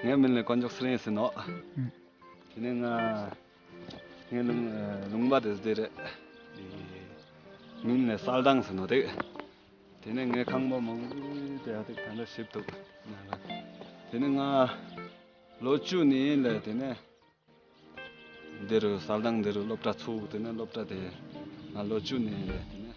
ངའི་མིང་ལ་དཀོན་མཆོག་སེང་ཟེར་ནོ་དེ་ནས་ང་ངའི་ལུང་པ་དེ་དེར་མིང་ལ་གསལ་དང་ཟེར་ནོ་དེ་དེ་ནས་ངའི་ཁང་པ་མང་པོའི་དེ་དེ་དེ་འདྲ་ཞིབ་ཐུབ་དེ་ནས་ང་ལོ་བཅུ་ནས་ལ་དེ་ནས་འདི་རུ་གསལ་དང་འདི་རུ་སློབ་གྲྭ་ཚུགས་དེ་ནས་སློབ་གྲྭ་དེ་ང་ལོ་བཅུ་ནས་ལ་དེ་ནས་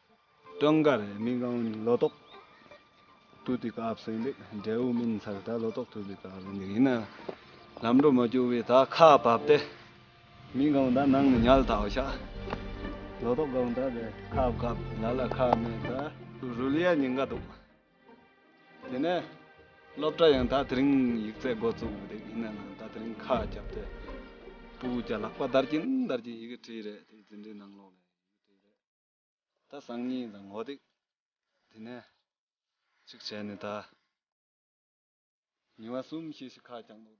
སྟོན་དགའ་རེད་མི་གང་ལོ་ཏོག་ཏུ་དེ་ག་བསོད་འདེགས་འབྲས་བུ་སྨིན་ཚར་ད་ལོ་ཏོག་ཏུ་དེ་ག་བསོད་འདེགས་ཡིན་ན་ལམ་འགྲོ་མ་རྒྱུག་བས་ད་ཁ་བབས་ཏེ་མི་གང་ད་ནང་ནས་ཉལ་དྭོགས་ཤག་ལོ་ཏོག་གང་ད་དེ་ཁ་བབས་ལ་ལ་ཁ་མེད་ད་རུལ་ཡ་ཉིན་འགའ་འདུག་དེ་ནས་སློབ་གྲྭ་ཡང་ད་དེ་རིང་ཡིག་ཚད་འགོ་བཙུགས་བསྡད་ཡིན་ན་ནང་ད་དེ་རིང་ཁ་བརྒྱབས་ཏེ་སྤུ་གུ་བརྒྱ་ལག་པ་འདར་གྱིན་འདར་གྱིན་ཡི་གེ་བྲིས་རེད་དེ་འཛིན་གྲྭའི་ནང་ལོགས་ནས་ཡི་གེ་བྲིས་རེད། ད་སང་ཉིན་དང་ངོ་ཏིག་དེ་ནས་གཅིག་བྱས་ནས་ད་ཉི་བ་གསུམ་ཤིག་ཤིག་ཁ་བརྐྱང་འདུག།